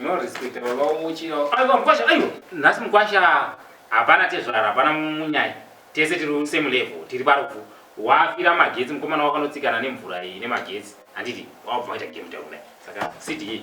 No respect baba umuchira. Aiwa mkwasha, aiwa. Nhasi mkwasha hapana tezvara, hapana munyai. Tese tiri on same level, tiri parufu. Wafira magetsi mkomana wakanotsikana nemvura iyi nemagetsi. Handiti wabva waita game down. Saka CD.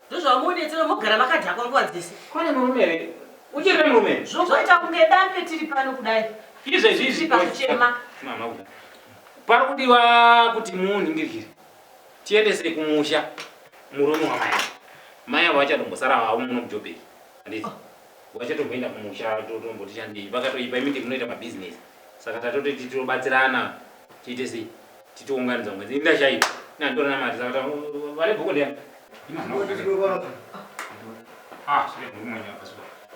Ndozvamuonetsera mogara makadhakwa nguva dzese. Kwane murume here? Uchiri murume. Zvozoita kunge dande tiri pano kudai. Izve zvizi pakuchema. Mama uda. Pari kudiwa kuti muningirire. Tiendese kumusha murume wamai. Mai avo vachatombosara havo muno mujobheki. Handiti? Oh. Vachatomboenda kumusha totomboti chandei. Vakatoipa imiti munoita mabusiness. Saka tatoti titobatsirana tiite sei? titounganidza mwedzi inda chaipo nanditora namari saka vale bhuku ndem ah,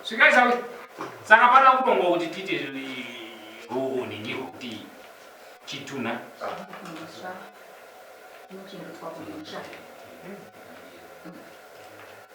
svikai sawi saka pana kutonga kuti tiite ruuni ndiko kuti chituna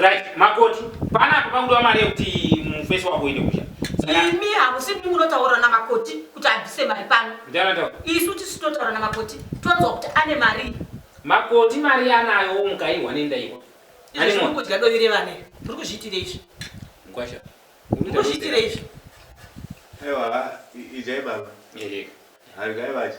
right makoti panapo pakudiwa mari yekuti mufesi wako uende kusha imi hamusi mimi munotaura namakoti kuti abvise mari pano isu tisu totaura namakoti tonzwa kuti ane mari makoti mari yanayo mukaihwa nendaiwa kudya dovi revana muri kuzviitira izvi mkwasha kuzviitira izvi aiwa ijai baba hargai vacho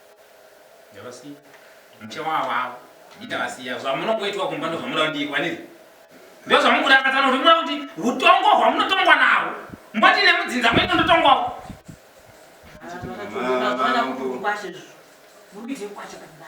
Ndavasiya. Mche wavo avo. Ndavasiya. Zvamunongoitwa kumba ndozvamunoda kuti ndiitwa nini? Ndozvamukurakadzana kuti munoda kuti utongo hwamunotongwa nawo. Mboti nemudzinza mwenyu ndotongwawo. Mama vangu. Kwashe. Muri kuita kwashe pachibanda.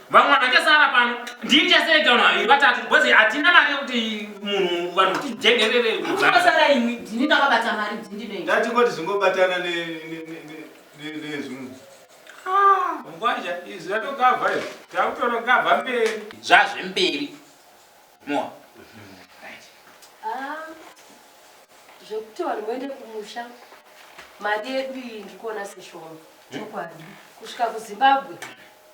vamwe vanhu vachasara pano ndini chasereka vanhu vaviri vatatu because hatina mari yekuti munhu vanhu kuti jengerere kunosara imwi ndini ndakabata mari ndindiei ndatingoti zvingobatana nezvimwe ah, ngwaja izvi zvatogavha izvi takutotogavha mberi zvazvemberi moa ah, zvekuti vanhu voende kumusha mari yedu iyi ndikuona seshoma chokwadi kusvika kuzimbabwe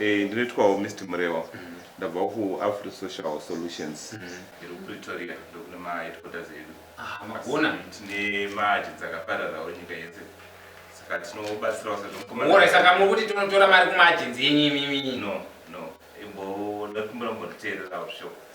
Eh, ndinoitwawo Mr Murewa ndabva kuAfri Social Solutions iri kuPretoria ndokune maheadquarters edu Ah, magona. tine maji dzakapararawo nyika yese saka tinobatsirawo Mora sezvomukomana saka muri kuti tinotora mari kumaagenzi enyu imimi. no no imbo ndakumbira mbonditeererawo zvishoko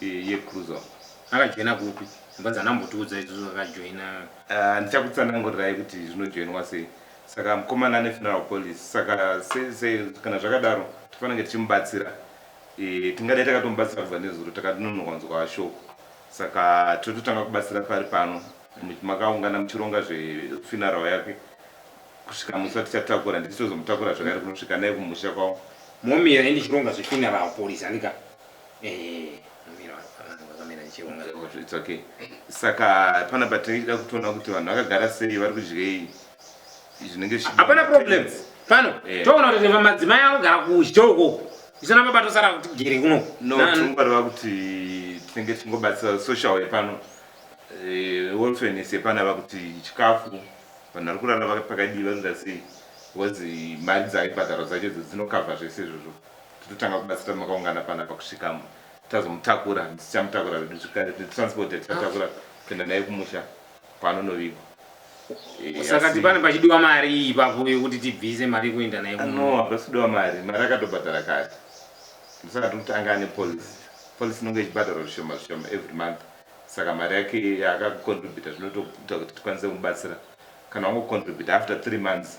yecruiser akajoina kupi mbazi anambotiudza izvozvo akajoina ah, ndichakutsanangurirai kuti zvinojoinwa sei saka mukomana ane funeral police saka kana zvakadaro tifanenge tichimubatsira eh, tingadai takatomubatsira kubva nezuro takatinonowanzwa shoko saka tototanga kubatsira pari pano makaungana muchironga zvefuneral yake kusvika musi watichatakura ndichitozomutakura zvakare kunosvika naye kumusha kwavo momi here ndichironga zvefuneral police andika It's okay. Saka pana patinida kutoona kuti vanhu vakagara sei vari kudyei zvinenge hapana problem pano eh. toona kuti madzimai akugara kuchitoro koko isana baba tosara kuti gere kuno no tinongwareva kuti tinenge tichingobatsira social yepano eh, wolfenes yepano ava kuti chikafu vanhu vari kurara pakadii vanoda sei because mari dzaibhadhara dzacho dzo dzinokavha zvese izvozvo totanga kubatsira makaungana panapa kusvikamo tazomutakura tichamutakura vedu zvekare transport yatichatakura kuenda naye kumusha kwaanonovigwa eh, saka ti pane pachidiwa mari iyi papo yekuti tibvise mari yekuenda naye no hapasi kudiwa mari mari akatobhadhara kare ndosaka tiri kutanga ane policy policy inonge ichibhadhara zvishoma zvishoma every month saka mari yake yaakakontributa zvinotoita kuti tikwanise kumubatsira kana wangokontributa after three months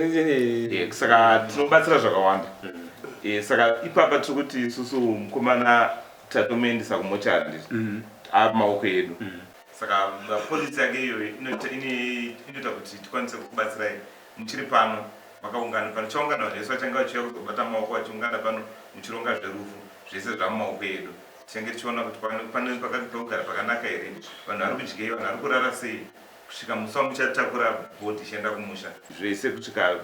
Eh, saka tinobatsira zvakawanda eh, saka ipapa tiri kuti isusu mukomana tatomuendesa kumochari mm. ava maoko edu mm. saka polisi yake iyo inoita kuti tikwanise kukubatsirai muchiri pano makaungana pano chaungana zvese vachange vachiuya kuzobata maoko vachiungana pano muchironga zverufu zvese zvamumaoko edu tichange tichiona kuti pane pakagara pakanaka here vanhu vari kudyei vanhu vari kurara sei Kusvika mufa muchatakura body ichienda kumusha. Zvese kusvika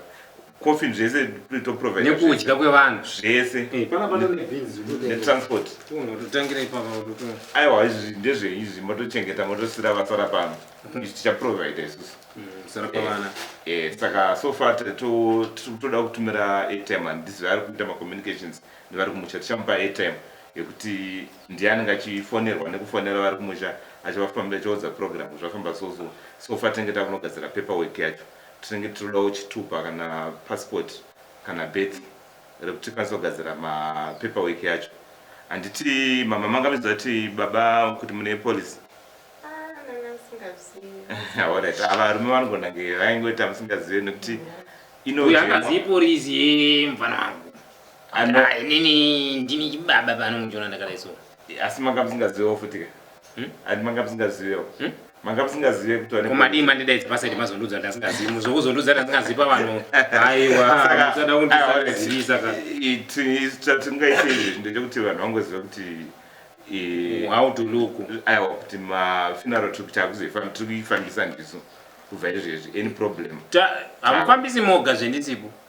coffin zvese to provide. Nekudya kwevanhu zvese. Eh, pana pana ne beans ne transport. Uno totangira ipapa uto. Aiwa izvi ndezve izvi motochengeta motosira vasara pano. Mm-hmm. Izvi ticha provide isusu. Mm, sara pavana. Eh, eh, saka so far to toda kutumira airtime and this vari kuita ma communications nevari kumusha tichamupa airtime yekuti Ndiye anenge achifonerwa nekufonera vari kumusha achivafambira achivaudza program zvafamba so so so far tinenge takunogadzira paper work yacho tinenge tirodawo chitupa kana passport kana birth rekuti tikwanise kugadzira ma paper work yacho handiti mama manga muchiziva kuti baba kuti mune policy Alright, ava varume vanogona nge vaingoita musingazive nekuti Uyu angazivi polisi yemvana wangu. Anda- Ah, inini ndini chibaba pano muchiona ndakadai so asi manga musingazivewo futi ka Hmm? andi manga musingazivewo Hmm? manga musingazive kuti wane- komadii mandidaidza pasaidi mazondudza ndasingazivi muzokuzondudza ndasingazivi pavanhu aiwa Saka- musada aiwa, kundizivisa ka i- ti- chatingaite izvi ndechekuti vanhu vangoziva kuti i- how to look aiwa kuti mafinaro tiri kuti akuzoifam- tiri kuifambisa ndisu kubva izvezvi any problem Ta- hamufambisi moga zvendisipo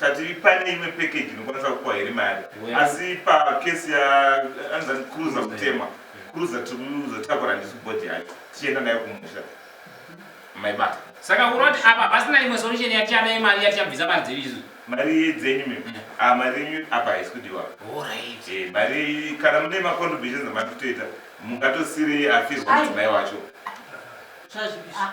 tati pane imwe package inokwanisa kupiwa here mari asi pacase yaanzani cruiser kutemwa cruiser tikuzotakura ndisu body yacho tichienda nayo kumusha maibata saka kunoti apa pasina imwe solution yatichada yemari yatichabvisa mari dzedu isu mari dzenyu mi mm. ah, mari yenyu apa haisi kudiwa eh, mari kana mune macontributions amati kutoita mungatosiri afirwa mudzimai wacho ah, ah.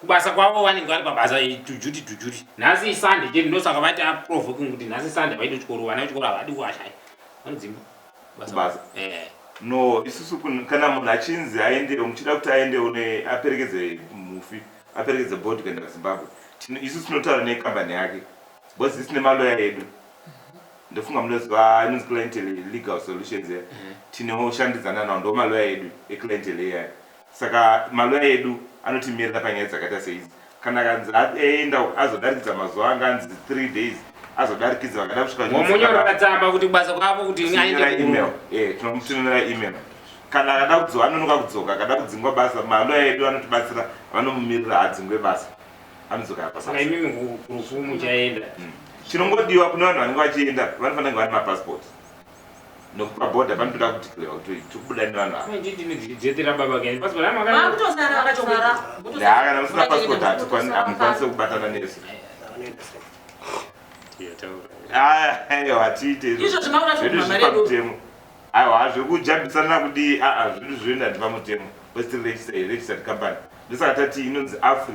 Kubasa kwavo vanenge vari pabasa tujuti tujuti. Nhasi iSunday chete ndosaka vati aprovoking kuti nhasi Sunday vaite chikoro vana vechikoro havadi kuwashaya. Vanodzimba. Kubasa. Eh. No, isusu kana munhu achinzi aende muchida kuti aende une aperekedze mufi aperekedze body kuenda kuZimbabwe. Isusu tinotaura nekambani yake. Because isine maloya edu. ndofunga munoziva inonzi clientele legal solutions ya mhm. tinoshandidzana nawo ndo maloya edu eclientele iyaya Saka malawyer edu anotimirira panyaya dzakaita seidzi. Kana akanzi aenda azodarikidza mazuva anga anzi three days azodarikidza vakada kusvika vomunyorera tsamba kuti kubasa kwavo kuti aende email eh tinomutumira email kana akada kudzoka anonoka kudzoka akada kudzingwa basa malawyer edu anotibatsira vanomumirira adzingwe basa anodzoka yapasa saka imimi kurufu muchaenda hmm. chinongodiwa kune vanhu vanenge vachienda vanofanira kunge vane mapasipoti nokupa border panotoda kudeclare kuti tiri kubuda nevanhu ava handiti ndichijetera baba kani passport hama kana Vakutosara vakachokera. haa kana musina passport hatikwani- hamukwanise kubatana nesu Aya, aiwa hatiite izvo. Izvo zvima unacho Zvedu zviri kumamare edu. pamutemo aiwa hazvi kujambisana kudii aa zvedu zvoenda ndi pamutemo kwesitiri registered company ndosaka tati inonzi afri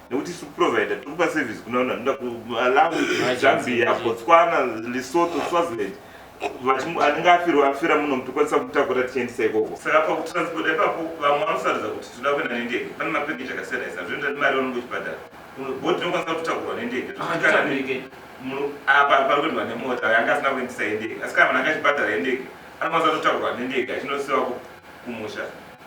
nekuti isu provider tikupa service kuna vanhu vanoda kumalawi zambia botswana lesotho swaziland anenge afirwa afira muno mutokwanisa kutakura tichiendisa ikoko saka pakutransport ipapo vamwe vanosarudza kuti tinoda kuenda nendege pane mapakeji akasiyana siyana zvinoita kuti mari vanenge uchibhadhara bot inokwanisa kutakurwa nendege apa pari kuendwa nemota yanga asina kuendisa yendege asi kana vanhu anga achibhadhara yendege anokwanisa kutotakurwa nendege achinosiwa kumusha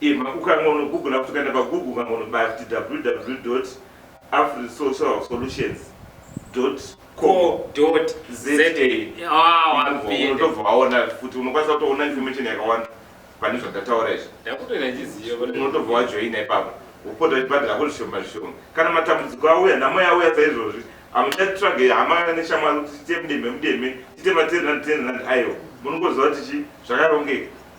Emma ukange unogoogler futi ukaenda pagoogle ukange unobaya futi www afrisocial solutions unotobva waona futi unokwanisa kutoona information yakawanda pane zvandataura izvi unotobva wajoina ipapo wopota uchibhadhira ko zvishoma zvishoma kana matambudziko auya nhamo yauya saizvozvi amuchatitrage hama neshamwari kuti tiite mudemhe mudemhe tiite matenrand tenrand aiwa munongoziva kuti chi zvakarongeka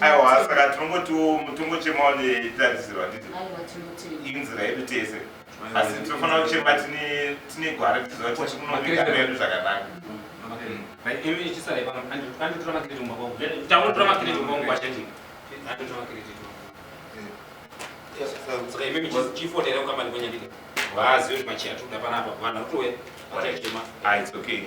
aiwa saka tinongotiwo mutongo chemawo netarisiro handiti inzira yedu tese asi tinofanira kuchema tine gwara tiziva kuti tikunoviga medu zvakanaka It's okay.